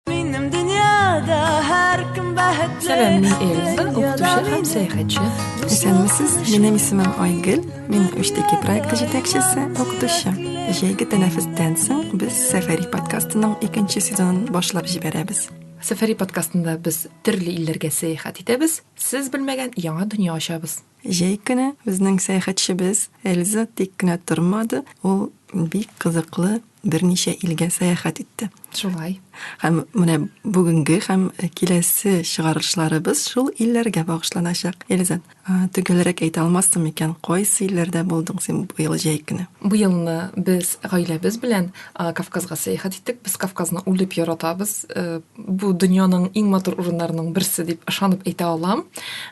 Минем дөньяда һәркем бәхетле. Сәлам, мин Эльза, укытучы һәм сәяхәтче. Исәнмесез, минем исемем Айгөл, мин Үштеки проекты җитәкчесе, укытучы. Җәйге тәнәфестән соң без Сәфәри подкастының икенче сезонын башлап җибәрәбез. Сәфәри подкастында без төрле илләргә сәяхәт итәбез, сез белмәгән яңа дөнья ачабыз. Җәй көне безнең сәяхәтчебез Эльза тик кенә тормады, ул бик кызыклы берничә илгә сәяхәт итте. Шулай. Һәм менә бүгенге һәм киләсе чыгарылышларыбыз шул илләргә багышланачак. Эльза, төгәлрәк әйтә алмассың микән, кайсы илләрдә булдың син быел җәй көне? Быелны без гаиләбез белән Кавказга сәяхәт иттек. Без Кавказны үлеп яратабыз. Э, бу дөньяның иң матур урыннарының берсе дип ышанып әйтә алам.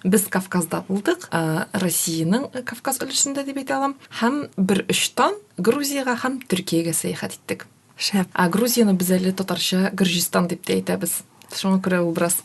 Без Кавказда булдык, Россиянең Кавказ өлешендә дип әйтә алам. Һәм бер очтан Грузиягә һәм Төркиягә сәяхәт иттек. Шәп. Ә Грузияне без әле татарча Гөрҗистан дип тә әйтәбез. Шуңа күрә ул бераз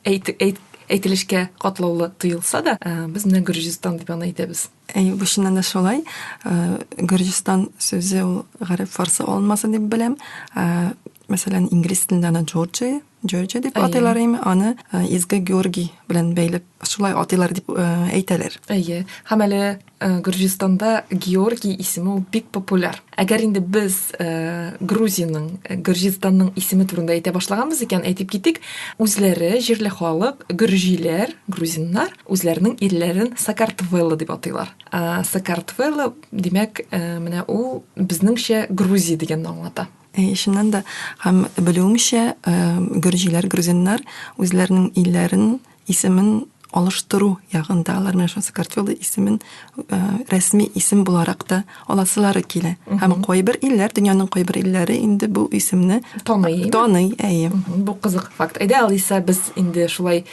әйтелешкә катлаулы тоелса да, без менә Гөрҗистан дип аны әйтәбез. Әй, бу чыннан да шулай. Э, Гөрҗистан сүзе ул гарәп фарсы алынмасы дип беләм. Э, мәсәлән, инглиз телендә аны Джорджия, Джорджия дип атыйлар име, аны э, Изге Георгий белән бәйләп шулай атыйлар дип әйтәләр. Әйе. Һәм әле Гөрҗистанда Георгий исеме бик популяр. Әгәр инде без э, Грузиянең, э, Гөрҗистанның исеме турында әйтә башлаганбыз икән, әйтеп китик, үзләре җирле халык, гөрҗиләр, грузиннар үзләренең ирләрен Сакартвелло дип атыйлар. Э, Сакартвелло, димәк, э, менә ул безнеңчә Грузия дигәнне аңлата. Э, чыннан да һәм белүемчә, э, гөрҗиләр, грузиннар үзләренең илләрен исемен алыштыру ягында алар менә шул Сакартвелла исемен э, рәсми исем буларак та аласылары килә. Һәм кайбер илләр, дөньяның кайбер илләре инде бу исемне таный. Таный, әйе. Бу кызык факт. Әйдә, Алиса, без инде шулай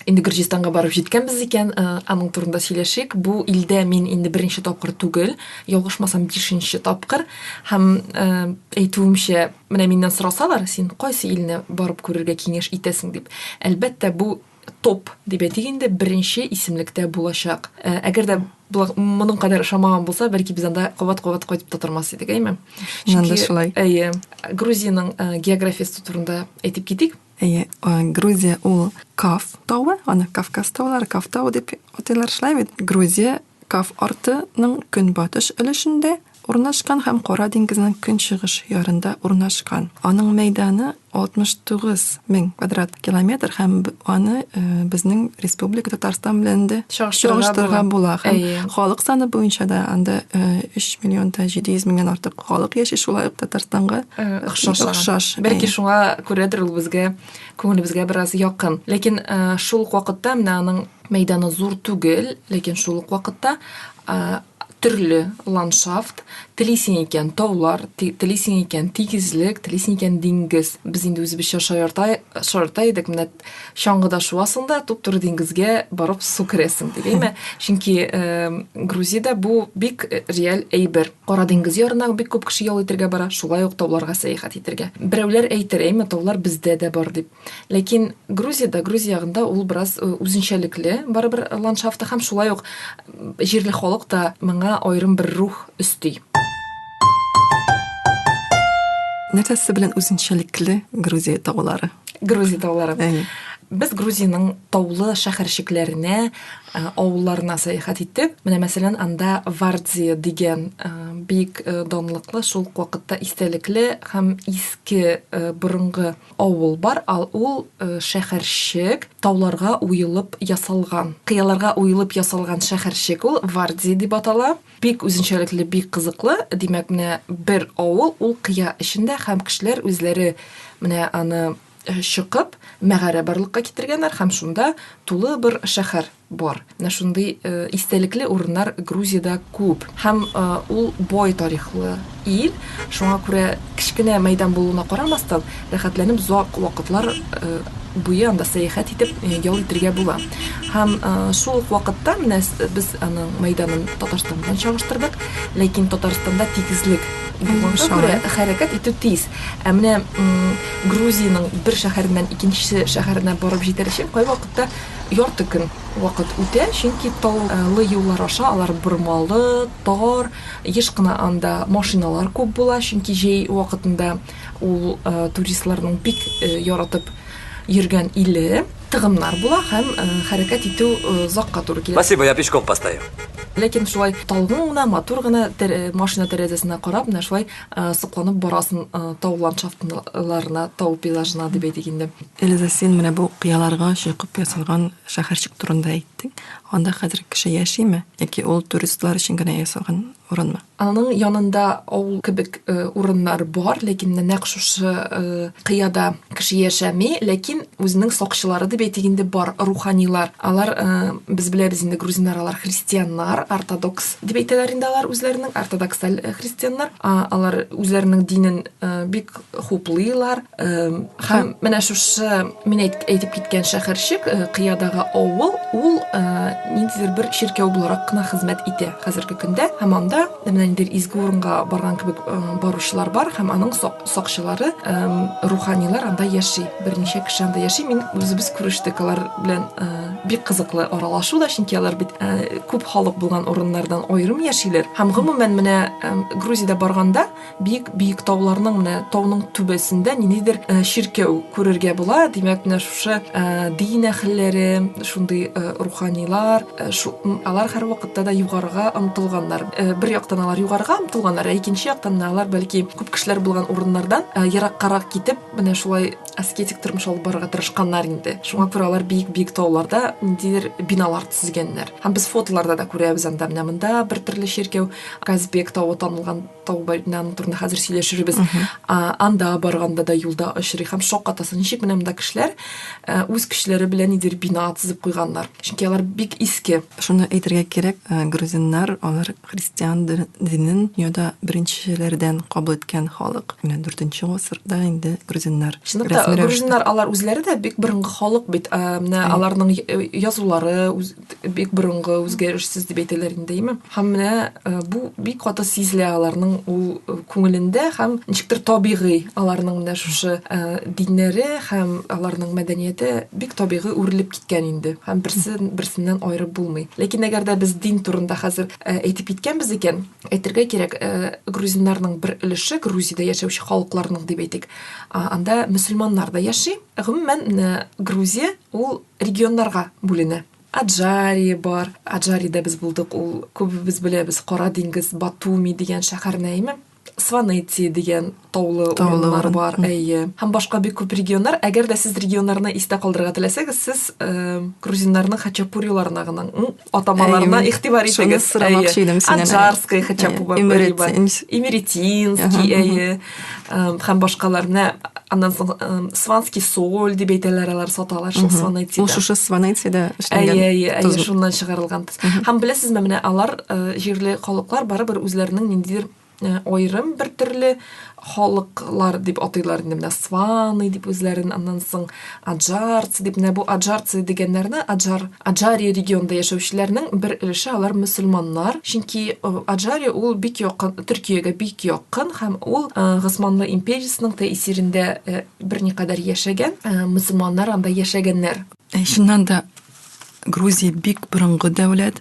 инде Гөрҗистанга барып җиткәнбез икән, э, аның турында сөйләшик. Бу илдә мин инде беренче тапкыр түгел, ялгышмасам, бишенче тапкыр. Һәм э, әйтүемчә, Менә миннән сорасалар, син кайсы илне барып күрергә киңәш итәсең дип, әлбәттә, бу топ, дип әйтик инде, беренче исемлектә булачак. Ә, әгәр дә моның кадәр ошамаган булса, бәлки без анда кабат-кабат кайтып та тормас идек, әйме? Чөнки, шулай. Әйе, Грузиянең э, географиясе турында әйтеп китик. Әйе, э, Грузия ул Каф тавы, аны Кавказ таулары, Каф тавы дип атыйлар шулай бит. Грузия Каф артының көнбатыш өлешендә, Урнашкан һәм Кара диңгезнең көнчыгыш ярында урнашкан. Аның мәйданы 69 мең квадрат километр һәм аны э, безнең республика Татарстан белән дә чагыштырырга була. Һәм халык саны буенча да анда 3 э, миллион да 700 меңнән артык халык яши, шулай ук Татарстанга э, охшаш. Бәлки шуңа күрәдер ул безгә күңелебезгә бераз якын. Ләкин шул ук вакытта менә аның мәйданы зур түгел, ләкин шул ук вакытта төрле ландшафт, телисең икән таулар, телисең икән тигезлек, телисең икән диңгез. Без инде үзебезчә шаярта, шаярта идек, менә чаңгыда шуасың да, туп-туры диңгезгә барып су керәсең, дигәйме? Чөнки э, Грузиядә бу бик э, реаль әйбер. Кара диңгез ярына бик күп кеше ял итәргә бара, шулай ук тауларга сәяхәт итәргә. Берәүләр әйтер, әйме, таулар бездә дә бар дип. Ләкин Грузиядә, Грузия ягында ул бераз э, үзенчәлекле барыбер ландшафты һәм шулай ук җирле халык та моңа аерым бер рух өсти. Нәрсәсе белән үзенчәлекле Грузия таулары? Грузия таулары. Без Грузиянең таулы шәһәрчекләренә, э, авылларына сәяхәт иттек. Менә мәсәлән, анда Вардзия дигән э, бик данлыклы, шул вакытта истәлекле һәм иске борынгы Авыл бар, ал ул шәхәрчек, тауларга уелып ясалган, кыяларга уелып ясалган шәхәрчек ул, Варди дип атала. Бик үзенчәлекле, бик кызыклы, димәк, менә бер авыл ул кыя эчендә һәм кешеләр үзләре менә аны чокып, мәгарә барлыкка китергәннәр һәм шунда тулы быр шәхәр. Бар. Менә шундый истәлекле урыннар Грузиядә күп. Һәм ул бай тарихлы ил. Шуңа күрә кечкенә мәйдан булуына карамастан, рәхәтләнеп озак вакытлар буе анда сәяхәт итеп ял итергә була. Һәм шул ук вакытта менә без аның мәйданын Татарстан белән чагыштырдык, ләкин Татарстанда тигезлек булганга күрә хәрәкәт итү тиз. Ә менә Грузиянең бер шәһәреннән икенче шәһәренә барып җитәр өчен кайвакытта Ярты көн вакыт үтә, чөнки тау лы юллар аша алар бормалы, тар, еш кына анда машиналар күп була, чөнки җәй вакытында ул туристларның бик яратып йөргән иле, тыгыннар була һәм хәрәкәт итү озакка туры килә. Спасибо, я пешком постою. Ләкин шулай талгын гына, матур гына машина тәрәзәсенә карап, менә шулай Э, сокланып барасың э, тау ландшафтларына тау пейзажына дип әйтик инде элиза син менә бу кыяларга чокып ясалган шәһәрчек турында әйттең анда хәзер кеше яшиме яки ул туристлар өчен генә ясалган урынмы аның янында авыл кебек э, урыннар бар ләкин нәкъ шушы кыяда Кеше яшәми, ләкин үзенең сакчылары дип әйтик инде бар руханилар. Алар э, без беләбез инде грузиннар алар христианнар, ортодокс дип әйтәләр инде алар үзләренең ортодоксаль э, христианнар. А, алар үзләренең динен э, бик хуплыйлар. Э, һәм менә шушы мин әйтеп киткән шәһәрчек, э, кыядагы авыл, ул э, ниндидер бер чиркәү буларак кына хезмәт итә хәзерге көндә. Һәм анда менә ниндидер изге урынга барган кебек э, баручылар бар һәм аның сак Сакчылары, руханилар анда яши. Берничә кеше анда яши. Мин үзебез күрештек алар белән. Бик кызыклы аралашу да, чөнки алар бит күп халык булган урыннардан аерым яшиләр. Һәм гомумән менә Грузиядә барганда биек биек тауларның менә тауның түбәсендә ниндидер чиркәү күрергә була. Димәк, менә шушы дин әһелләре, шундый руханилар, Алар һәрвакытта да югарыга омтылганнар. Бер яктан алар югарыга омтылганнар, ә икенче яктан да алар бәлки күп кешеләр булган урыннардан ераккарак китеп, менә шулай аскетик тормыш алып барырга тырышканнар инде. Шуңа күрә алар биек-биек тауларда ниндидер биналар төзегәннәр. Һәм без фотоларда да күрәбез анда, менә монда бер төрле чиркәү, Казбек тавы танылган, Таубайнан турында хәзер сөйләшербез. Анда барганда да юлда очрый һәм шок атасы. Ничек менә монда кешеләр э, үз көчләре белән нидер бина тезеп куйганнар. Чөнки алар бик иске. Шуны әйтергә кирәк, э, грузиннар алар христиан динен дөньяда беренчеләрдән кабул иткән халык. Менә 4-нче гасырда инде грузиннар. Чынлыкта грузиннар алар үзләре дә бик борынгы халык бит. Э, менә аларның язулары, бик борынгы үзгәрешсез дип әйтәләр инде әйме һәм менә э, бу бик каты сизелә аларның ул э, күңелендә һәм ничектер табигый аларның менә шушы э, диннәре һәм аларның мәдәнияте бик табигый үрелеп киткән инде һәм берсе берсеннән аерып булмый ләкин әгәр дә без дин турында хәзер әйтеп киткәнбез икән әйтергә кирәк грузиннарның бер өлеше грузиядә яшәүче халыкларның дип әйтик анда мөселманнар да яши гомумән грузия ул регионнарга бүленә. Аджария бар. Аджариядә без булдык, ул күбебез беләбез, Кара диңгез, Батуми дигән шәһәр Нәйме. Сванети дигән таулы урыннар бар, әйе. Һәм башка бик күп регионнар. Әгәр дә сез регионнарны истә калдырырга теләсәгез, сез э, грузиннарның хачапуриларына гына атамаларына Әйе, игътибар шуны итегез. сорамакчы идем синнән, әйе. Аджарская хотя Әйе, бы Эмеретин. Имеретинский, Аһа, әйе. Эм, Һәм башкалар. Менә аннан соң эм, Сванский соль дип әйтәләр, алар саталар шул Ул Сванетида. шушы Сванетида Әйе, эшләнгән. әйе, әйе, тозлы. шуннан чыгарылган. Һәм беләсезме, менә алар э, җирле халыклар барыбер үзләренең ниндидер Э, аерым бер төрле халыклар дип атыйлар инде менә сваны дип үзләрен аннан соң аджарцы дип менә бу аджарцы дигәннәрне аджар аджария регионында яшәүчеләрнең бер өлеше алар мөселманнар чөнки э, аджария ул бик якын төркиягә бик якын һәм ул э, госманлы империясының тәэсирендә берникадәр яшәгән мөселманнар анда яшәгәннәр шуннан да Грузия бик борынгы дәүләт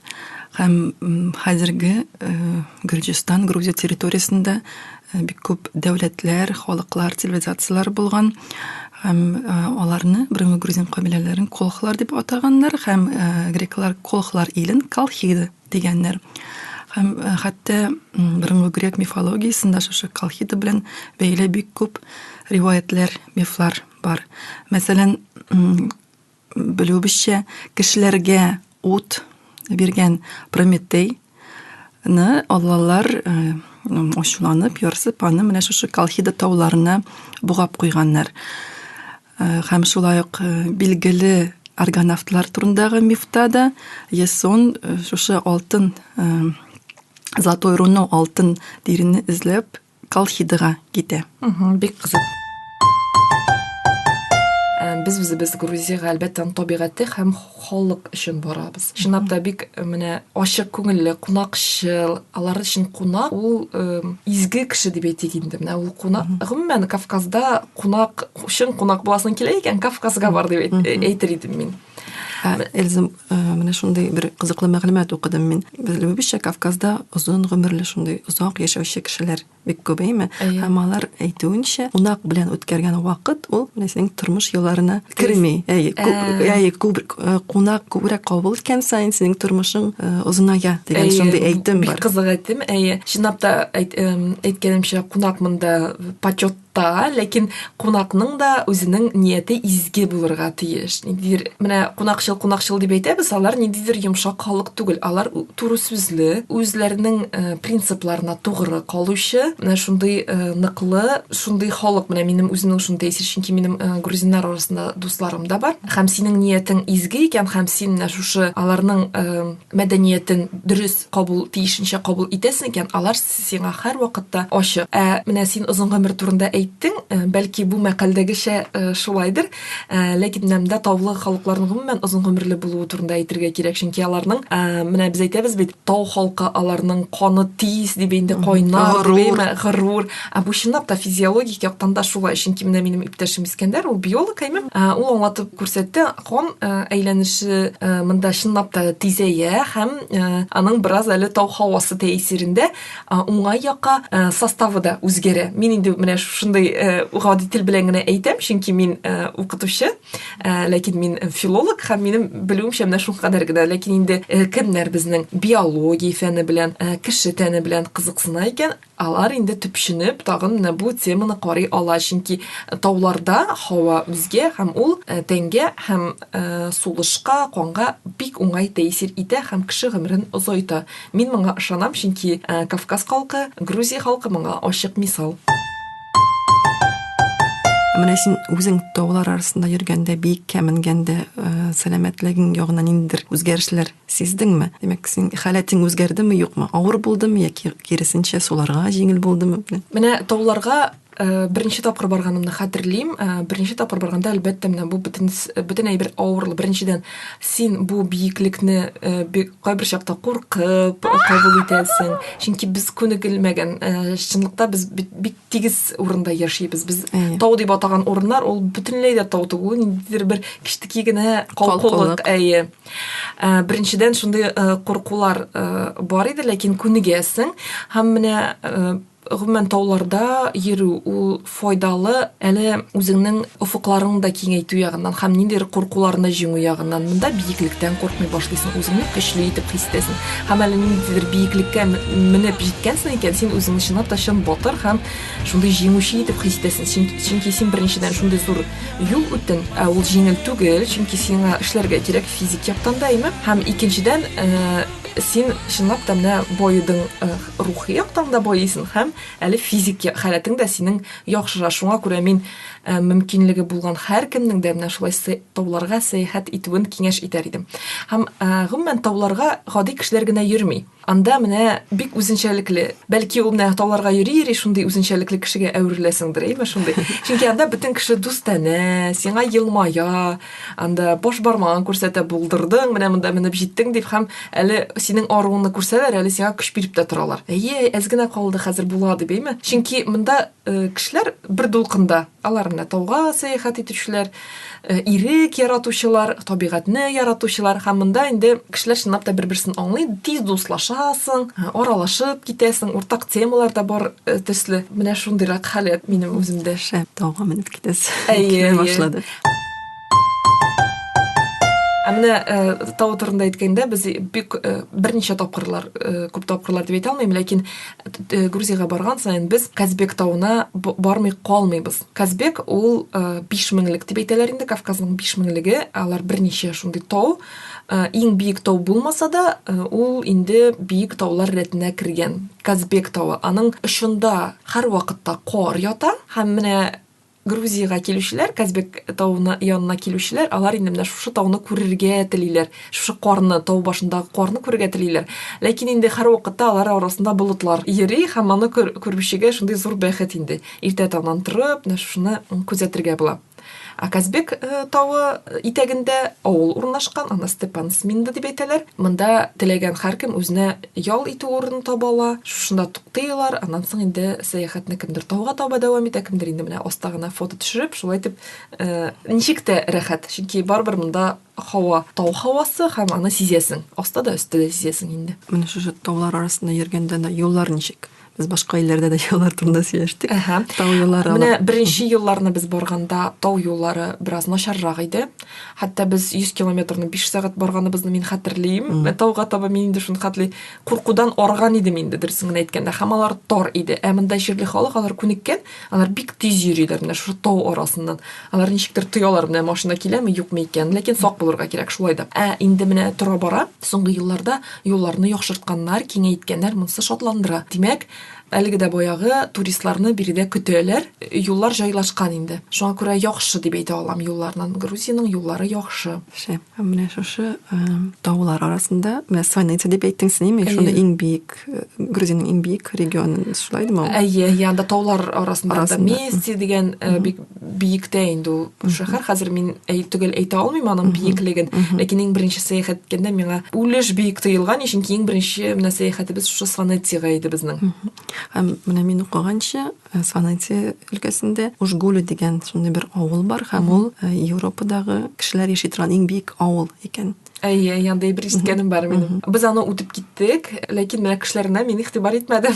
һәм хәзерге э, Гөрҗистан, Грузия территориясендә э, бик күп дәүләтләр, халыклар, цивилизацияләр булган һәм э, аларны борынгы грузин кабиләләрен колхлар дип атаганнар һәм греклар колхлар илен колхиды дигәннәр. Һәм хәтта борынгы грек мифологиясендә шушы колхиды белән бәйле бик күп риваятләр, мифлар бар. Мәсәлән, Белүебезчә, кешеләргә ут биргән Прометей ны аллалар э, ачуланып, ярсып, аны менә шушы Колхида тауларына бугап куйганнар. Э, һәм шулай ук э, билгеле аргонавтлар турындагы мифта да Ясон шушы алтын золотой руно алтын диренне эзләп Колхидага китә. Бик кызык. Без үзебез Грузиягә әлбәттә табигате һәм халык өчен барабыз. Чынлап та бик менә ачык күңелле, кунакчыл, алар өчен кунак ул изге кеше дип әйтик инде. Менә ул кунак. Гомумән Кавказда кунак, чын кунак буласың килә икән, Кавказга бар дип әйтер идем мин. Эльза, менә шундый бер кызыклы мәгълүмат укыдым мин. Белүебезчә, Кавказда озын гомерле шундый озак яшәүче кешеләр бик күп, әйме? Һәм алар әйтүенчә, кунак белән үткәргән вакыт ул менә синең тормыш юлларына керми. Әйе, әйе, күп кунак күбрәк кабул иткән саен синең тормышың озыная дигән шундый әйтем бар. Бик кызык әйтем, әйе. Чынлап та әйткәнемчә, кунак монда почет Та, ләкин кунакның да үзенең нияте изге булырга тиеш. Ниндидер менә кунакчыл кунакчыл дип әйтәбез, алар ниндидер йомшак халык түгел. Алар туры сүзле, үзләренең э, принципларына тугры калучы, менә шундый э, ныклы, шундый халык. Менә минем үземнең шундый әсир, чөнки минем э, грузиннар арасында дусларым да бар. Һәм синең ниятең изге икән, һәм син менә шушы аларның мәдәниятен дөрес кабул тиешенчә кабул итәсең икән, алар сиңа һәрвакытта ачык. Ә менә син озын гомер турында әйттең, э, бәлки бу мәкальдәгечә э, шулайдыр, э, ләкин менә монда таулы халыкларның гомумән озын гомерле булуы турында әйтергә кирәк, чөнки аларның менә без әйтәбез бит, тау халкы аларның каны тиз дип инде кайнар, горур, горур. Ә бу чынлап та физиологик яктан да шулай, чөнки менә минем иптәшем Искәндәр, ул биолог әйме, ул аңлатып күрсәтте, Кон әйләнеше монда чынлап та тизәя һәм аның бераз әле тау һавасы тәэсирендә уңай якка составы да үзгәрә. Мин инде менә шушындый гади тел белән генә әйтәм, чөнки мин укытучы, ләкин мин филолог һәм минем белүемчә менә шуңа кадәр генә. Ләкин инде кемнәр безнең биология фәне белән, кеше тәне белән кызыксына икән, Алар инде төпченеп тагын менә бу теманы карый ала, чөнки тауларда һава үзгә һәм ул тәнгә һәм сулышка, канга бик уңай тәэсир итә һәм кеше гомерен озайта. Мин моңа ышанам, чөнки Кавказ халкы, Грузия халкы моңа ачык мисал. Ә менә син үзең таулар арасында йөргәндә, биеккә менгәндә, сәламәтлегең ягына ниндидер үзгәрешләр Сиздеңме? Димәк, синең халәтең үзгәрдеме, юкмы? Авыр булдымы яки киресенчә суларга җиңел булдымы? Менә тауларга э, беренче тапкыр барганымны хәтерлим. Э, беренче тапкыр барганда, әлбәттә, менә бу бөтен бөтен әйбер авырлы. Беренчедән, син бу биеклекне э, кайбер чакта куркып кабул итәсең. Чөнки без күнегелмәгән. Чынлыкта без бик тигез урында яшибез. Без тау дип атаган урыннар, ул бөтенләй дә тау түгел, ниндидер бер кичтеки генә калкулык. Әйе. Ә, беренчедән шундый ә, куркулар ә, бар иде, ләкин күнегәсең. Һәм менә ә, гомумән тауларда йөрү ул файдалы әле үзеңнең офыкларың да киңәйтү ягыннан һәм ниндидер куркуларны җиңү ягыннан монда биеклектән куркмый башлыйсың үзеңне көчле итеп хис итәсең һәм әле ниндидер биеклеккә менеп җиткәнсең икән син үзеңне чынлап та чын батыр һәм Шундый җиңүче итеп хис итәсен, чөнки син беренчедән шундый зур юл үттен, ә ул җиңел түгел, чөнки сиңа эшләргә кирәк физик яктан да, әйме? Һәм икенчедән, э, син чынлап та менә боедың э, рухи яктан да боесың һәм әле физик халәтең дә синең яхшыра шуңа күрә мин э, мөмкинлеге булган һәркемнең дә менә шулай тауларга сәяхәт итүен киңәш итәр идем һәм э, гомумән тауларга гади кешеләр генә йөрми Анда менә бик үзенчәлекле. Бәлки ул менә тауларга йөри-йөри шундый үзенчәлекле кешегә әвереләсеңдер, әйме шундый. Чөнки анда бөтен кеше дустанә, сиңа елмая, анда баш бармагын күрсәтә, булдырдың, менә монда менеп җиттең дип һәм әле синең аруыңны күрсәләр, әле сиңа көч биреп тә торалар. Әйе, әз генә калды, хәзер була дип, әйме. Чөнки монда э, кешеләр бер дулкында, Алар менә тауга сәяхәт итүчеләр, э, ирек яратучылар, табигатьне яратучылар һәм монда инде кешеләр чынлап та бер-берсен аңлый, тиз дуслашасың, э, аралашып китәсең, уртак темалар да бар э, төсле. Менә шундыйрак халәт минем үземдә. Шәп, тауга менеп китәсез. Әйе, башлады. Ә менә э, тау турында әйткәндә, без бик э, берничә тапкырлар, э, күп тапкырлар дип әйтә алмыйм, ләкин Э, Грузияга барган саен без Казбек тауына бармый калмыйбыз. Казбек ул 5 э, меңлек дип әйтәләр инде, Кавказның 5 меңлеге, алар берничә шундый тау. Э, иң биек тау булмаса да, ул инде биек таулар рәтенә кергән. Казбек тавы, аның очында һәр вакытта кор ята һәм менә Грузиягә килүчеләр, Казбек тавына янына килүчеләр, алар инде менә шушы тауны күрергә телиләр. Шушы карны, тау башындагы карны күрергә телиләр. Ләкин инде һәрвакытта алар арасында болытлар йөри һәм моны күрүчегә шундый зур бәхет инде. Иртә таңнан торып, менә шушыны күзәтергә була. Ә Казбек э, тавы итәгендә авыл урнашкан, аны Степан Сминда дип әйтәләр. Монда теләгән һәркем үзенә ял итү урыны таба ала, шушында туктыйлар, аннан соң инде сәяхәтне кемдер тауга таба дәвам итә, кемдер инде менә аста гына фото төшереп, шулай итеп э, ничек тә рәхәт, чөнки барыбер монда һава, тау һавасы һәм аны сизәсең, аста да өстә дә сизәсең инде. Менә шушы таулар арасында йөргәндә юллар ничек? Без башка илләрдә дә юллар турында сөйләштек. Ага. Тау юллары. Менә беренче елларны без барганда тау юллары бераз начаррак иде. Хәтта без 100 километрны 5 сәгать барганыбызны мин хәтерлим. Mm. Тауга таба мин инде шуны хәтли. Куркудан арган идем инде дөресен генә әйткәндә. Һәм алар тар иде. Ә монда җирле халык алар күнеккән. Алар бик тиз йөриләр менә шушы тау арасыннан. Алар ничектер тоялар менә машина киләме, юкмы икән. Ләкин сак булырга кирәк шулай да. Ә инде менә тора бара, соңгы елларда юлларны яхшыртканнар, киңәйткәннәр, монысы шатландыра. Димәк, әлеге дә баягы туристларны биредә көтәләр. Юллар җайлашкан инде. Шуңа күрә яхшы дип әйтә алам юлларнын. Грузиянең юллары яхшы. Шәп. Ә менә шушы таулар арасында, менә Сванеция дип әйттең син, ме? Шунда иң биек, Грузиянең иң биек регионы, шулай димә? Әйе, янда таулар арасында, арасында. Мести дигән бик биектә инде ул шәһәр. Хәзер мин төгәл әйтә алмыйм аның биеклеген, ләкин иң беренче сәяхәт иткәндә миңа үлеш биек тоелган, чөнки иң беренче менә сәяхәтебез шушы Сванециягә иде безнең. Һәм менә мин укыганча, Э, Санатия өлкәсендә Ужгулю дигән шундый бер авыл бар һәм ул э, Европадагы кешеләр яши торган иң бик авыл икән. Әйе, янда бер искәнем бар минем. Без аны үтеп киттек, ләкин менә кешеләренә мин игътибар итмәдем.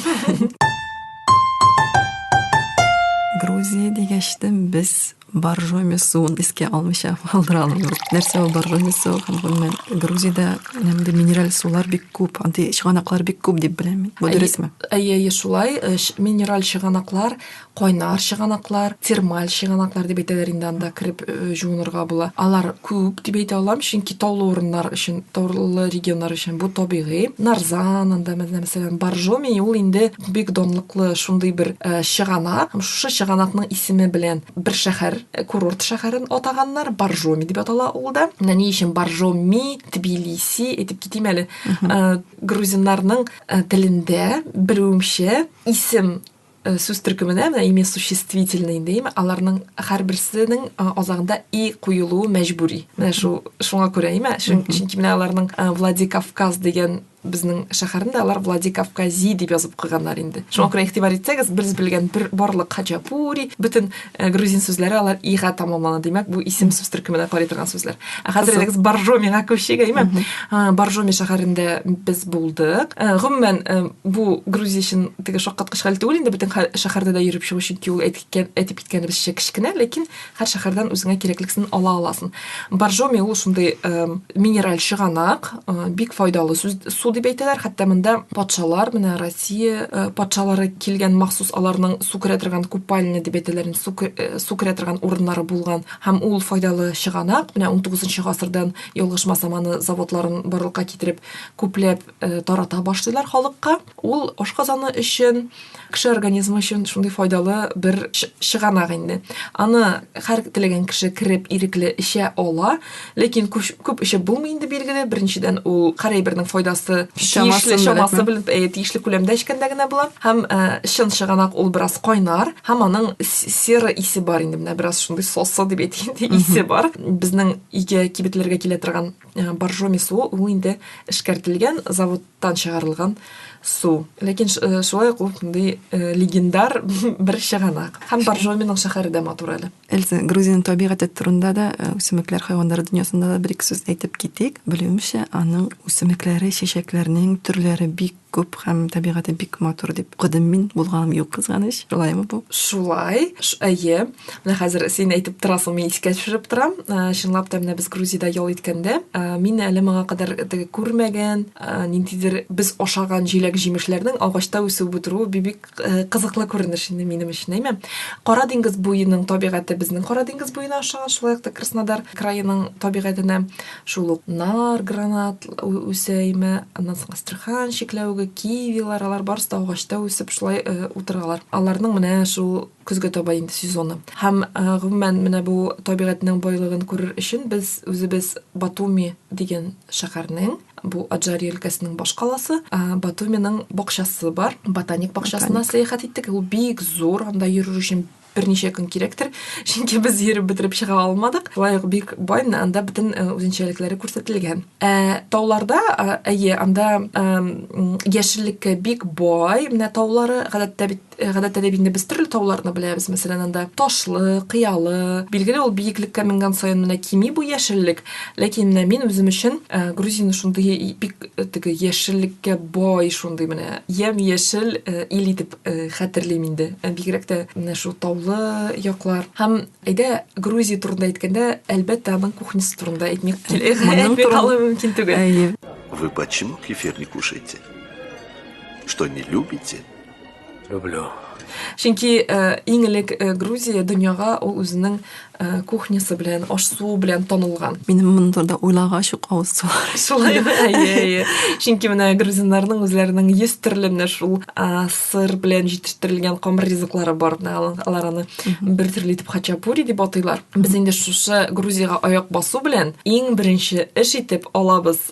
Грузия дигәч без Боржоми мисуын искә алмыйча калдыра алмыйм. Нәрсә ул боржоми мисуы? Һәм гомумән Грузиядә нәмди минераль сулар бик күп, андый чыганаклар бик күп дип беләм мин. Бу дөресме? Әйе, әйе, шулай. Э, минераль чыганаклар, кайнар чыганаклар, термаль чыганаклар дип әйтәләр инде анда кереп э, жуынырга була. Алар күп дип әйтә алам, чөнки таулы урыннар өчен, таулы регионнар өчен бу табигый. Нарзан анда мәсәлән, боржоми ул инде бик данлыклы шундый бер э, чыганак һәм шушы чыганакның исеме белән бер шәһәр э, курорт шәһәрен атаганнар баржоми дип атала ул да менә ни өчен баржоми тбилиси әйтеп китим әле э, грузиннарның э, телендә берүемчә исем э, сүз төркеменә менә имя существительный дим аларның һәрберсенең э, азагында и куелуы мәҗбүри менә шул шуңа күрә име чөнки менә аларның э, владикавказ дигән безнең шәһәрендә алар Владикавкази дип язып укыганнар инде. Шуңа күрә игътибар итсәгез, без белгән бер барлык хачапури, бөтен э, грузин сүзләре алар ига тамамлана. Димәк, бу исем сүз төркеменә карый торган сүзләр. Ә хәзер элегез Боржомига күчик, әйме? Э, Боржоми шәһәрендә без булдык. Э, гомумән, бу грузия өчен теге шаккаткыч хәл түгел инде, бөтен шәһәрдә дә йөреп чыгу, чөнки ул әйтеп киткәнебезчә кечкенә, ләкин Һәр шәһәрдән үзеңә кирәклексен ала аласын. Боржоми ул шундый минераль чыганак, бик файдалы су дип әйтәләр. Хәтта монда патшалар, менә Россия патшалары килгән махсус аларның су керә торган купальня дип әйтәләр, су керә торган урыннары булган. Һәм ул файдалы чыганак, менә 19 гасырдан ялгышмасам аны заводларын барлыкка китереп күпләп тарата башлыйлар халыкка. Ул ашказаны өчен, кеше организмы өчен шундый файдалы бер чыганак инде. Аны һәр теләгән кеше кереп ирекле эчә ала, ләкин күп эчеп булмый инде билгеле. Беренчедән ул кара әйбернең файдасы тиешле чамасы белән э, тиешле күләмдә эчкәндә генә була. Һәм э, чын чыганак ул бераз кайнар һәм аның сера исе бар инде менә бераз шундый сосы дип әйтик инде исе бар. Безнең өйгә кибетләргә килә торган э, боржоми суы ул инде эшкәртелгән завод тан чыгарылган су. Ләкин шулай ук ул шундый легендар бер чыганак. Һәм Боржоминың шәһәре дә матур әле. Эльза, Грузиянең табигате турында да, үсемлекләр, хайваннар дөньясында да бер-ике сүз әйтеп китик. Белүемчә, аның үсемлекләре, чәчәкләренең төрләре бик күп һәм табигате бик матур дип укыдым мин. Булганым юк, кызганыч. Шулаймы бу? Шулай. Әйе. Менә хәзер син әйтеп торасың, мин искә төшереп торам. Э, чынлап та менә без Грузиядә ял иткәндә, э, мин әле моңа кадәр теге күрмәгән, э, ниндидер без ашаган җиләк-җимешләрнең агачта үсеп утыруы бик кызыклы күренеш инде минем өчен, әйме? Кара диңгез буеның табигате безнең Кара диңгез буена ошаган, шулай ук та Краснодар краеның табигатенә шул ук нар, гранат үсә, әйме? Аннан соң Астрахань чикләвеге, кивилар, алар барысы да агачта үсеп шулай утыралар. Аларның менә шул көзгә таба инде сезоны. Һәм, гомумән, менә бу табигатьнең байлыгын күрер өчен без үзебез Батуми дигән шәһәрнең, бу Аджари өлкәсенең башкаласы, Батуминың бакчасы бар, ботаник бакчасына сәяхәт иттек. Ул бик зур, анда йөрер өчен берничә көн кирәктер, чөнки без йөреп бетереп чыга алмадык. Шулай ук бик бай, анда бөтен үзенчәлекләре күрсәтелгән. Ә тауларда, әйе, анда яшеллеккә бик бай, менә таулары, гадәттә бит, Э, гадәттә дә инде без төрле тауларны беләбез мәсәлән анда ташлы кыялы билгеле ул биеклеккә менгән саен менә кими бу яшеллек ләкин менә мин үзем өчен э, грузияне шундый бик э, теге яшеллеккә бай шундый менә ямь яшел ил итеп хәтерлим инде бигрәк тә менә шул таулы яклар һәм әйдә грузия турында әйткәндә әлбәттә аның кухнясы турында әйтми калу мөмкин түгел вы почему кефир не кушаете что не любите Люблю. Чөнки э, иң элек э, Грузия дөньяга ул үзенең э, кухнясы белән, аш суы белән танылган. Минем моны турында уйлагач ук авыз сулар. Шулай әйе. Чөнки менә грузиннарның үзләренең 100 төрле менә шул сыр белән җитештерелгән камыр ризыклары бар. Алар аны бер төрле итеп хачапури дип атыйлар. Без инде шушы Грузиягә аяк басу белән иң беренче эш итеп алабыз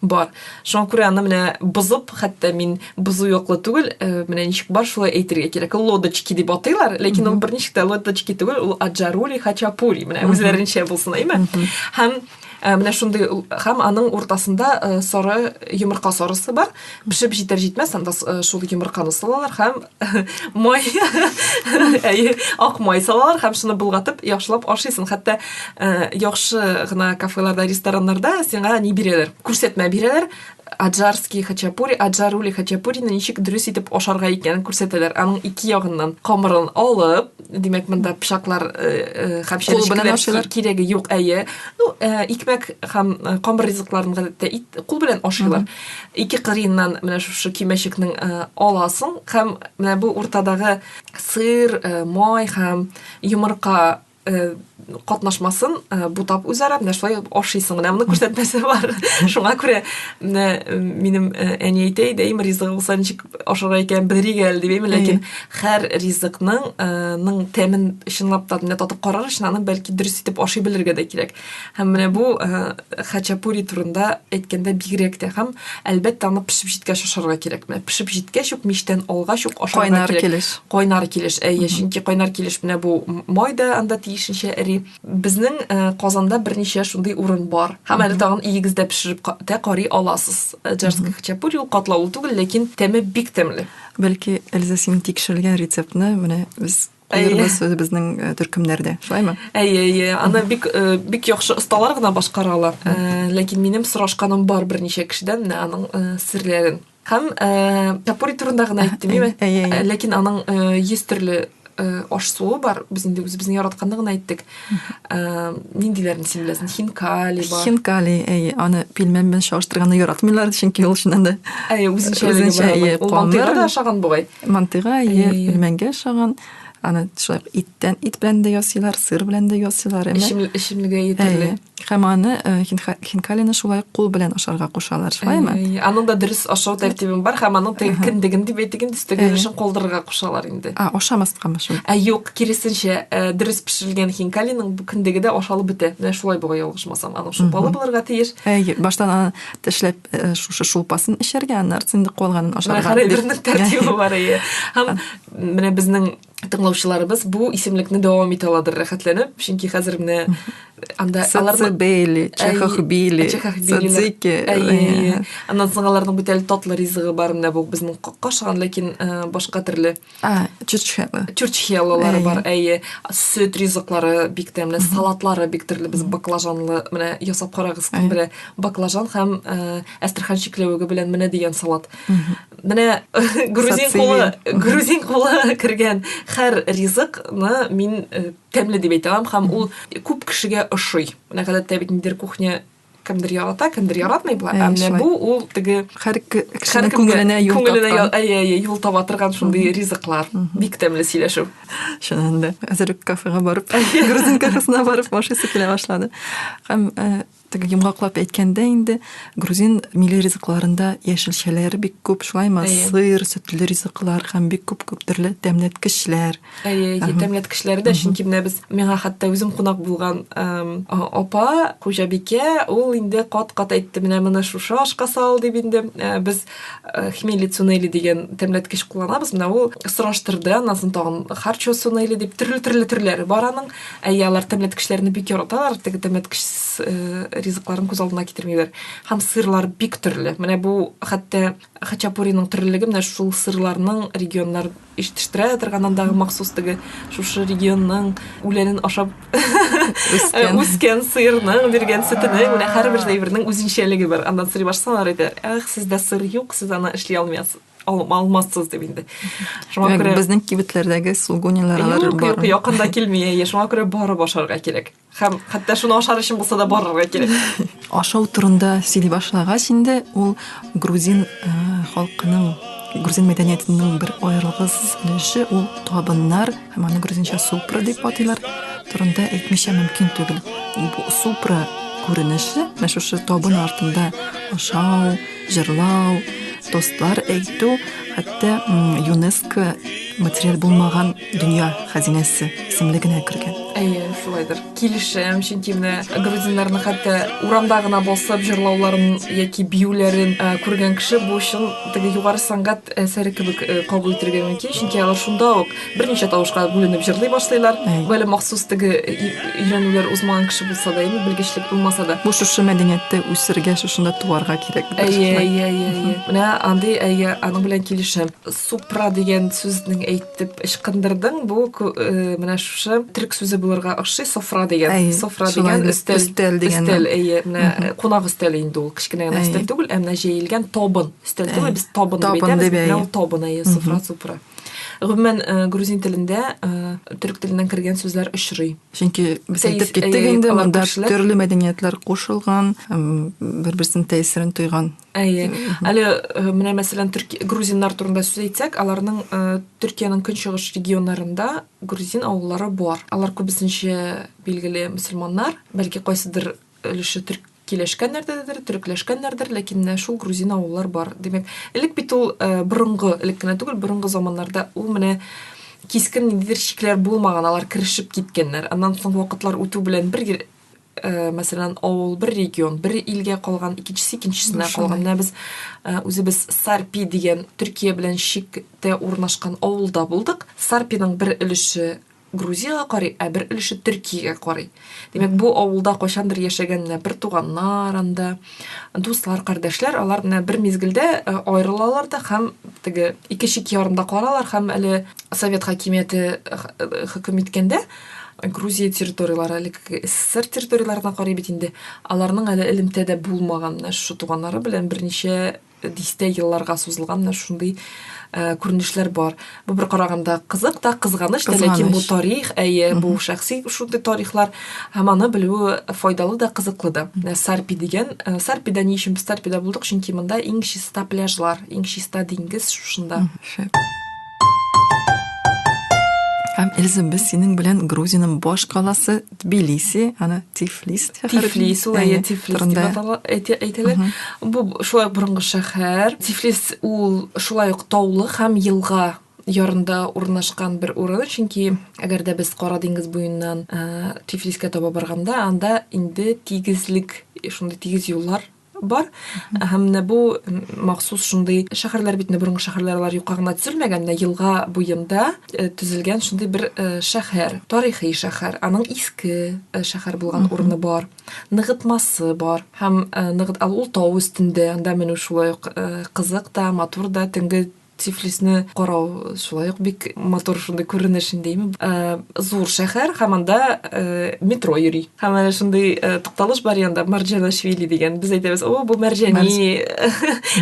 бар шуңа күрә аны менә бозып хәтта мин бозу яклы түгел э, менә ничек бар шулай әйтергә кирәк лодочки дип атыйлар ләкин ул берничек тә лодочки түгел ул аджарули хачапури менә үзләренчә булсын әйме һәм э, менә шундый һәм аның уртасында э, сары йомырка сарысы бар пешеп җитәр җитмәс анда шул йомырканы салалар һәм май әйе ак май салалар һәм шуны болгатып яхшылап ашыйсың хәтта э, яхшы гына кафеларда рестораннарда сиңа не бирәләр күрсәтмә бирәләр аджарский хачапури аджарули хачапурины ничек дөрес итеп ашарга икәнен күрсәтәләр аның ике ягыннан камырын алып димәк монда пычаклар хәмшәр белән кирәге юк әйе ну икмәк һәм камыр ризыкларын гадәттә кул белән ашыйлар ике кырыеннан менә шушы кимәчекнең э, аласың һәм менә бу уртадагы сыр, э, май һәм йомырка э, катнашмасын бутап үзара менә шулай ашыйсың менә моны күрсәтмәсе бар шуңа күрә менә минем әни әйтә иде әйм ризыгы булса ничек ашарга икән белерик әле дип әйме ләкин һәр ризыкның ның тәмен чынлап та менә татып карар өчен аны бәлки дөрес итеп ашый белергә дә кирәк Һәм менә бу э, хачапури турында әйткәндә бигрәк тә һәм әлбәттә аны пешеп җиткәч ашарга кирәк. Менә пешеп җиткәч үк мичтән алгач ук ашарга кирәк. Кайнар килеш. Кайнар килеш. Әйе, чөнки кайнар килеш менә бу май да анда тиешенчә эри. Безнең э, Казанда берничә шундый урын бар. Һәм әле тагын иегез дә пешереп тә карый аласыз. Э, Джарский хачапури ул катлаулы түгел, ләкин тәме бик тәмле. Бәлки Эльза син тикшерелгән рецептны менә без Куербыз үзебезнең э, төркемнәрдә, шулаймы? Әйе, әйе. Аны бик э, бик яхшы осталар гына башкара ала. Э, ләкин минем сорашканым бар берничә кешедән менә аның серләрен. Һәм тапури турында гына әйттем, әйе. Ләкин аның 100 төрле аш суы бар. Без инде үзебезнең яратканны гына әйттек. ниндиләрне син беләсең хинкали бар хинкали әй аны пилмән белән чагыштырганда яратмыйлар чөнки ул чыннан да әй үзенчәлеге бар мантыйга да ошаган бугай мантыйга әйе пилмәнгә ошаган аны шулай иттән ит белән дә ясыйлар сыр белән дә ясыйлар эчемлеге әйе Һәм аны э, хинкалины шулай кул белән ашарга кушалар, шулаймы? Э, аның да дөрес ашау тәртибе бар һәм аның кендеген дип әйтегән төстәгәлешен калдырырга кушалар инде. А, ашамаскамы шул? Ә юк, киресенчә, э, дөрес пешерелгән хинкалиның бу кендеге дә ашалып бетә. Менә шулай буга ялгышмасам, аның шулпалы булырга тиеш. Әйе, баштан аны тешләп шушы шулпасын эчәргә, аннары инде калганын ашарга. Менә тәртибе бар әйе. Һәм менә безнең тыңлаучыларыбыз бу исемлекне дәвам итә аладыр рәхәтләнеп, чөнки хәзер менә анда аларны бейли, чехах бейли, садзики. Аннан соң аларның бит әле татлы ризыгы бар менә бу безнең кашыган, ләкин э, башка төрле. А, чурчхела. Чурчхелалары бар, әйе. Сөт ризыклары бик тәмле, салатлары бик төрле. Без баклажанлы менә ясап карагыз, кем белә, баклажан һәм э, әстрхан чикләвеге белән менә дигән салат. Менә грузин кулы, грузин кулы кергән һәр ризыкны мин э, тәмле дип әйтә алам һәм ул күп кешегә ошый. Менә гадәттә бит ниндер кухня кемдер ярата, кемдер яратмый була. Ә менә бу ул теге һәр кешенең күңеленә юл күңеленә әйе, әйе, юл таба торган шундый ризыклар. Бик тәмле сөйләшү. Чыннан да. Хәзер үк кафега барып, грузин кафесына барып машинасы килә башлады. Һәм э, Теге йомгаклап әйткәндә инде грузин милли ризыкларында яшелчәләр бик күп, шулаймы? Сыр, сөтле ризыклар һәм бик күп күп төрле тәмләткечләр. Әйе, әйе, тәмләткечләр дә, чөнки менә без миңа хәтта үзем кунак булган апа, хуҗабикә, ул инде кат-кат әйтте, менә моны шушы ашка сал дип инде э, без э, хмели цунели дигән тәмләткеч кулланабыз. Менә ул сораштырды, аннан тагын харчо цунели дип төрле-төрле төрләре бар аның. Әйе, алар тәмләткечләрне бик яраталар, теге тәмләткеч э, ризыкларын күз алдына китермиләр. Һәм сырлар бик төрле. Менә бу хәтта хачапуриның төрлелеге менә шул сырларның регионнар ишетештерә торган андагы махсус теге шушы регионның үләнен ашап үскән, үскән сыерның биргән сөтенең менә һәрбер әйбернең үзенчәлеге бар. Аннан сорый башласалар әйтәләр, "Ах, сездә сыр юк, сез аны эшли алмыйсыз". алмассыз дип инде шуңа күрә безнең кибетләрдәге сугунилар алар юк юк якында килми әйе шуңа күрә барып ашарга кирәк һәм хәтта шуны ашар өчен булса да барырга кирәк ашау турында сөйли башлагач инде ул грузин э, халкының грузин мәдәниятының бер аерылгыз өлеше ул табыннар һәм аны грузинча супра дип атыйлар турында әйтмичә мөмкин түгел бу супра күренеше менә шушы табын артында ашау җырлау, тостлар әйтү, хәтта ЮНЕСКО материал булмаган дөнья хәзинәсе исемле генә кергән. Әйе, шулайдыр. Килешәм, чөнки менә грузиннарның хәтта урамда гына басып җырлауларын яки биюләрен э, күргән кеше бу чын теге югары сәнгать әсәре кебек э, кабул итәргә мөмкин, чөнки алар шунда ук берничә тавышка бүленеп җырлый башлыйлар. Бәле махсус теге өйрәнүләр узмаган кеше булса да, яме белгечлек булмаса да. Бу шушы мәдәниятте үсергә, шушында туарга кирәк. Әйе, әйе, әйе, әйе. Менә андый әйе, аның белән килешәм. Супра дигән сүзнең әйтеп ычкындырдың, бу э, менә шушы төрек сүзе булырга охшый, софра дигән. Әйе, софра дигән өстәл. Өстәл дигән. Өстәл, әйе, менә кунак өстәле инде ул, кечкенә генә өстәл түгел, ә менә җәелгән табын. Өстәл түгел, без табын дип әйтәбез. Табын дип әйтәбез. Табын, әйе, софра, супра. Гомумән, э, грузин телендә э, төрек теленнән кергән сүзләр очрый. Чөнки без Тәис- әйтеп киттек әйе, инде, алар монда күршеләр. төрле мәдәниятләр кушылган, м, бер-берсенең тәэсирен тойган. Әйе. Әле э, менә мәсәлән төрки грузиннар турында сүз әйтсәк, аларның э, Төркиянең көнчыгыш регионнарында грузин авыллары бар. Алар күбесенчә билгеле мөселманнар, бәлки кайсыдыр өлеше төрк киләшкәннәрдәдер, төрекләшкәннәрдер, ләкин менә шул грузин авыллар бар. Димәк, элек бит ул э, борынгы, элек кенә түгел, борынгы заманнарда ул менә кискен ниндидер чикләр булмаган, алар керешеп киткәннәр. Аннан соң вакытлар үтү белән бер э, мәсәлән, авыл, бер регион, бер илгә калган, икенчесе икенчесенә калган. Менә без э, үзебез Сарпи дигән Төркия белән чиктә урнашкан авылда булдык. Сарпиның бер өлеше Грузиягә карый, ә бер өлеше Төркиягә карый. Димәк, бу авылда кайчандыр яшәгән менә бер туганнар анда, дуслар, кардәшләр, алар менә бер мизгелдә э, аерылалар да һәм теге ике чик ярында калалар һәм әле совет хакимияте э, э, хөкем иткәндә Грузия территорияләре, әле СССР территорияләренә карый бит инде, аларның әле элемтәдә булмаган, менә шушы туганнары белән берничә дистә елларга сузылган менә шундый э, күренешләр бар. Бу бер караганда кызык та, кызганыч та, ләкин бу тарих, әйе, бу шәхси шундый тарихлар һәм аны белү файдалы да, кызыклы да. Менә Сарпи дигән, э, Сарпида ни өчен без Сарпида булдык? Чөнки монда иң чиста пляжлар, иң чиста диңгез шушында. Һәм Эльза, без синең белән Грузиянең баш каласы Тбилиси, аны Тифлис Тифлис, ул әйе, Тифлис дип әйтелә. Бу шулай борынгы шәһәр. Тифлис ул шулай ук таулы һәм елга ярында урнашкан бер урын, чөнки әгәр дә без Кара диңгез буеннан Тифлискә таба барганда, анда инде тигезлек, шундый тигез юллар бар һәм менә бу махсус шундый шәһәрләр бит борынгы шәһәрләр алар юкка гына төзелмәгән менә елга буенда э, төзелгән шундый бер э, шәһәр тарихи шәһәр аның иске э, шәһәр булган урыны бар ныгытмасы бар һәм ныгыт ал ул тау өстендә анда менү шулай ук кызык та матур да төнге Тифлисны карау шулай ук бик матур шундый күренеш инде, име? Зур шәһәр һәм анда метро йөри. Һәм әнә шундый тукталыш бар янда Марҗанашвили дигән. Без әйтәбез, "О, бу Марҗани,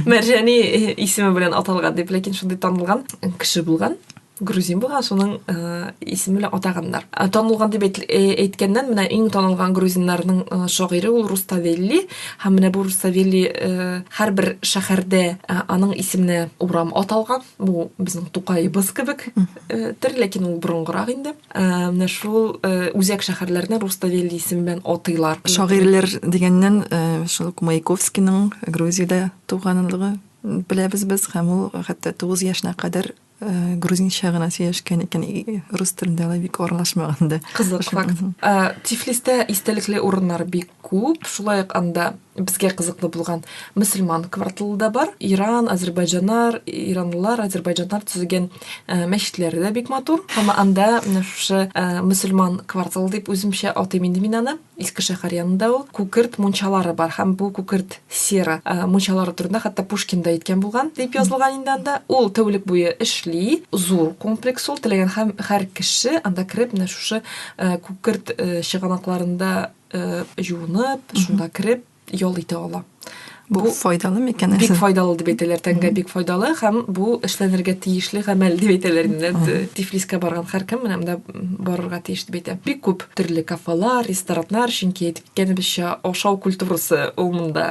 Марҗани исеме белән аталган" дип, ләкин шундый танылган кеше булган грузин булган, шуның исеме белән атаганнар. Танылган дип әйткәннән, менә иң танылган грузиннарның шагыйре ул Руставелли. Һәм менә бу Русавели һәрбер шәһәрдә аның исеменә урам аталган. Бу безнең Тукаебыз кебек төр, ләкин ул борынгырак инде. Менә шул үзәк шәһәрләрне Руставели исеме белән атыйлар. Шагыйрьләр дигәннән шул Маяковскийның Грузиядә туганлыгы беләбез без һәм ул хәтта 9 яшенә кадәр Э, грузинча гына сөйләшкән икән рус телендә алай бик аралашмаган да кызык факт э, тифлистә истәлекле урыннар бик күп шулай ук анда безгә кызыклы булган мөселман кварталы да бар иран азербайджаннар иранлылар азербайджаннар төзегән э, мәчетләре дә бик матур һәм анда менә шушы мөселман кварталы дип үземчә атыйм инде мин аны Иске шәһәр янында ул күкерт мунчалары бар һәм бу күкерт сера э, мунчалары турында хәтта Пушкин да әйткән булган дип язылган инде анда. Ул тәүлек буе эшли, зур комплекс ул, теләгән һәм һәр кеше анда кереп менә шушы э, күкерт э, чыганакларында э, җуынып, шунда кереп ял итә ала. Бу, бу файдалы микән? Бик файдалы дип әйтәләр, тәнгә бик файдалы һәм бу эшләнергә тиешле гамәл дип әйтәләр. Тифлискә барган һәркем менә монда барырга тиеш дип әйтә. Бик күп төрле кафелар, рестораннар, чөнки әйтеп киткәнебезчә, ашау культурасы ул монда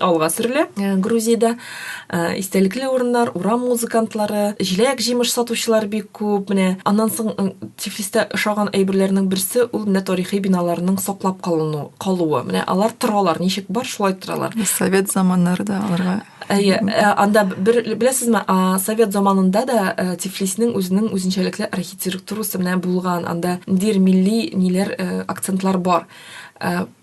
алга сөрелә. Э, Грузиядә э, истәлекле урыннар, урам музыкантлары, җиләк-җимеш сатучылар бик Күп менә. Аннан соң Тифлистә ошаган әйберләрнең берсе ул менә тарихи биналарның саклап калыну, калуы. Менә алар торалар, ничек бар, шулай торалар. Совет заманнары да аларга. Әйе, э, анда бер беләсезме, совет заманында да э, Тифлиснең үзенең үзенчәлекле архитектурасы менә булган. Анда дир милли ниләр э, акцентлар бар.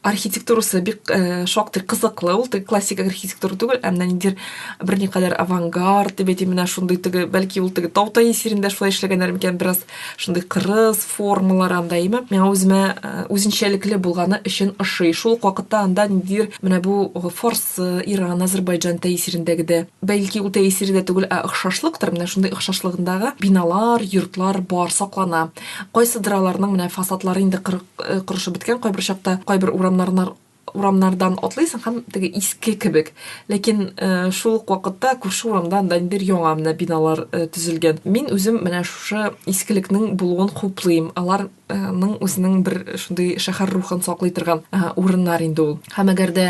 архитектурасы бик э, шактый кызыклы ул теге классик архитектура түгел ә менә ниндидер берникадәр авангард дип әйтим менә шундый теге бәлки ул теге тау тәэсирендә шулай эшләгәннәр микән бераз шундый кырыс формалар анда имә миңа үземә э, үзенчәлекле булганы өчен ошый шул ук вакытта анда ниндидер менә бу форс э, иран азербайджан тәэсирендәге дә бәлки ул тәэсире дә түгел ә охшашлыктыр менә шундый охшашлыгындагы биналар йортлар бар саклана кайсыдыр аларның менә фасадлары инде э, корышып беткән кайбер чакта кайбер урамнарнар урамнардан атлыйсың һәм теге иске кебек ләкин э, шул ук вакытта күрше урамда анда инде яңа менә биналар э, төзелгән мин үзем менә шушы искелекнең булуын хуплыйм аларның үзенең бер шундый шәһәр рухын саклый торган э, урыннар инде ул һәм әгәр дә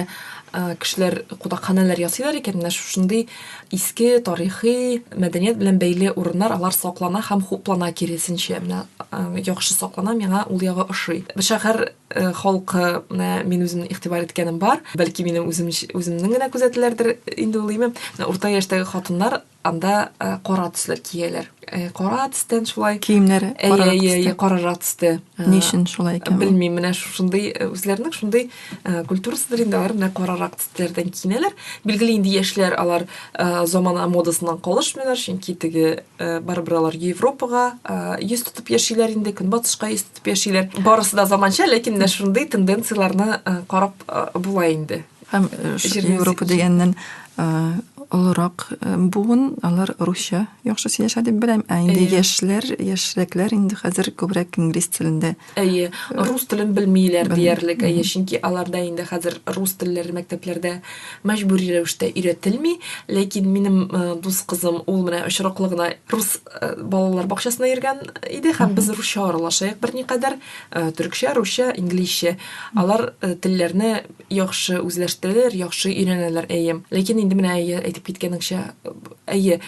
кешеләр кунакханәләр ясыйлар икән менә шушындый Иске, тарихи, мәдәният белән бәйле урыннар, алар саклана һәм хуплана киресенчә. Менә яхшы саклана, миңа ул ягы ошый. Шәһәр халкы, менә мин үзем игътибар иткәнем бар. Бәлки минем үзем үземнең генә күзәтүләрдер инде ул име. Урта яшьтәге хатыннар анда кара төсләр кияләр. Э, кара төстән шулай киемнәре кара төстә карара төстә ни өчен шулай икән белмим менә шушындый э, үзләренең шундый э, культурасыдыр инде алар менә карарак төсләрдән киенәләр билгеле инде яшьләр алар замана модасыннан калышмыйлар чөнки теге барыбер алар европага йөз тотып яшиләр инде көнбатышка йөз тотып яшиләр барысы да заманча ләкин менә шундый тенденцияләрне карап була инде Һәм Европа дигәннән олырак буын, алар русча яхшы сөйләшә дип беләм, ә инде яшьләр, яшьрәкләр инде хәзер күбрәк инглиз телендә. Әйе, рус телен белмиләр диярлек, әйе, чөнки аларда инде хәзер рус телләре мәктәпләрдә мәҗбүри рәвештә өйрәтелми, ләкин минем дус кызым, ул менә очраклы гына рус балалар бакчасына йөргән иде, һәм без русча аралашыйк берникадәр, төркчә, русча, инглизчә. Алар телләрне яхшы үзләштерәләр, яхшы өйрәнәләр, әйе. Ләкин инде менә әйе, әйтеп киткәнеңчә, әйе,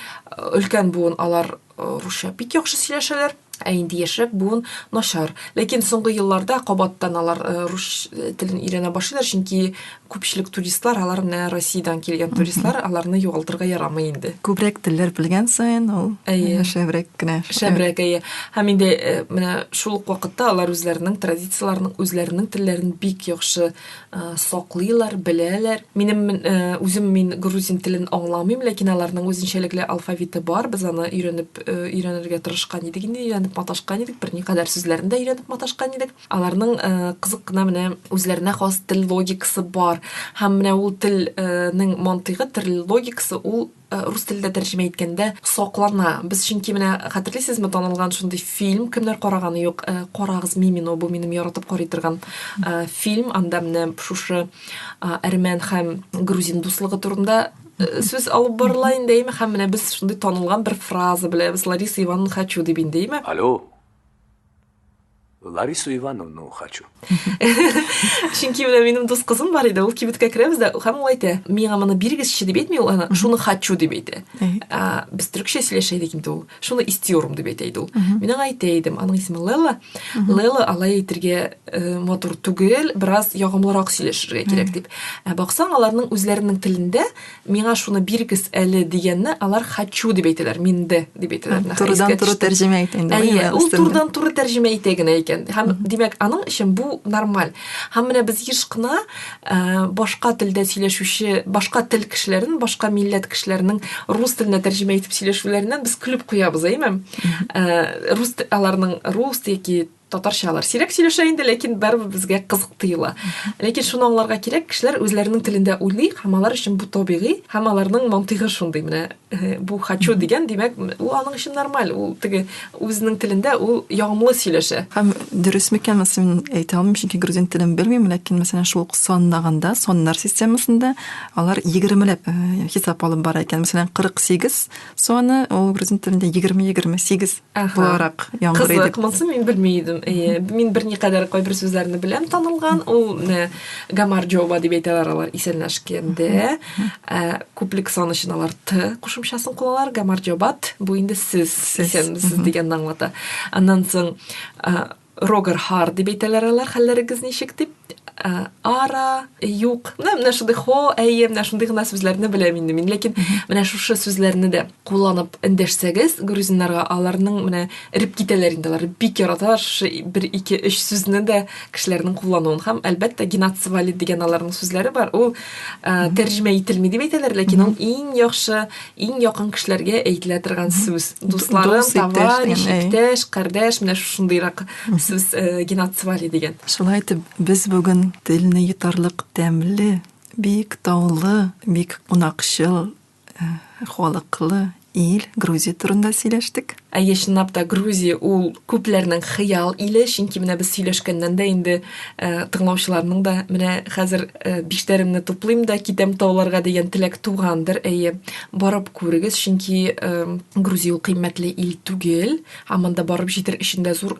өлкән буын алар русча бик яхшы сөйләшәләр, ә инде яшьрәк буын начар. Ләкин соңгы елларда кабаттан алар рус телен өйрәнә башлыйлар, чөнки күпчелек туристлар алар менә Россиядән килгән туристлар, аларны югалтырга ярамый инде. Күбрәк телләр белгән саен ул шәбрәк кенә. Шәбрәк, әйе. Һәм инде э, менә шул ук вакытта алар үзләренең традицияләрен, үзләренең телләрен бик яхшы э, саклыйлар, беләләр. Минем э, үзем мин грузин телен аңламыйм, ләкин аларның үзенчәлекле алфавиты бар. Без аны өйрәнеп өйрәнергә тырышкан идек, инде өйрәнеп маташкан идек, берникадәр сүзләрен дә өйрәнеп маташкан идек. Аларның кызык кына менә үзләренә хас тел логикасы бар. Һәм менә ул телнең мантыйгы, тел логикасы ул Э, рус телендә тәрҗемә иткәндә соклана без чөнки менә хәтерлисезме танылган шундый фильм кемнәр караганы юк э, карагыз мимино бу минем яратып карый торган э, фильм анда менә шушы әрмән һәм грузин дуслыгы турында сүз алып барыла инде әйме һәм менә без шундый танылган бер фраза беләбез лариса ивановна хочу дип инде әйме алло Ларису Ивановну хочу. Чөнки менә минем дус кызым бар иде, ул кибеткә керәбез дә, һәм ул әйтә, миңа моны биргезче дип әйтми ул аны, шуны хочу дип әйтә. Ә, без төркчә сөйләшә идек инде ул. Шуны истиорум дип әйтә иде ул. Мин аңа әйтә идем, аның исеме Лела. Лела алай әйтергә э, матур түгел, бераз ягымлырак сөйләшергә кирәк дип. Ә баксаң, аларның үзләренең телендә Миңа шуны бирегез әле дигәнне алар хочу дип әйтәләр, минде дип әйтәләр. Турыдан туры тәрҗемә итә инде. Әйе, ул турыдан туры тәрҗемә итә генә икән. Һәм димәк, аның өчен бу нормаль. Һәм менә без еш кына э, башка телдә сөйләшүче, башка тел кешеләрен, башка милләт кешеләренең рус теленә тәрҗемә итеп сөйләшүләреннән без көлеп куябыз, әйме? Э, рус аларның рус яки татарча алар сирәк сөйләшә инде ләкин барыбер безгә кызык тоела ләкин шуны аңларга кирәк кешеләр үзләренең телендә уйлый һәм алар өчен бу табигый һәм аларның мантыйгы шундый менә э, бу хочу дигән димәк ул аның өчен нормаль ул теге үзенең телендә ул ягымлы сөйләшә һәм дөрес микән сон мин әйтә алмыйм чөнки грузин телен белмим ләкин мәсәлән шул санлаганда соннар системасында алар егермеләп э, хисап алып бара икән мәсәлән кырык сигез соны ул грузин телендә егерме егерме сигез буларак яңгыр идек. Кызык, монсын мин белми идем. Әйе, мин берникадәр кайбер сүзләрне беләм танылган. Ул э, гамар джоба дип әйтәләр алар исәнләшкәндә. Ә, күплек сан өчен алар т кушымчасын кулланар. Гамар джобат бу инде сез исәнмесез дигәнне аңлата. Аннан соң э, Рогер Хар дип әйтәләр алар, хәлләрегез ничек дип. Ә, ара, юк. Менә менә шундый хо, әйе, менә шундый гына сүзләрне беләм инде мин. Ләкин менә шушы сүзләрне дә кулланып эндәшсәгез, грузиннарга аларның менә эреп китәләр инде. Алар бик яраталар шушы бер, ике, өч сүзне дә кешеләрнең куллануын. Һәм әлбәттә генацвали дигән аларның сүзләре бар. Ул ә, тәрҗемә ителми дип әйтәләр, ләкин ул иң яхшы иң якын кешеләргә әйтелә торган сүз дусларым товарищ иптәш кардәш менә шушындыйрак сүз э, геноцвали дигән шулай итеп без бүген телне йотарлык тәмле бик таулы бик кунакчыл э, халыклы ил грузия турында сөйләштек Әйе, чынлап та, Грузия ул күпләрнең хыял иле, чөнки менә без сөйләшкәннән дә инде э, тыңлаучыларның да менә хәзер э, биштәремне туплыйм да китәм тауларга дигән теләк тугандыр. Әйе, барып күрегез, чөнки э, Грузия ул кыйммәтле ил түгел, һәм монда барып җитер өчен дә зур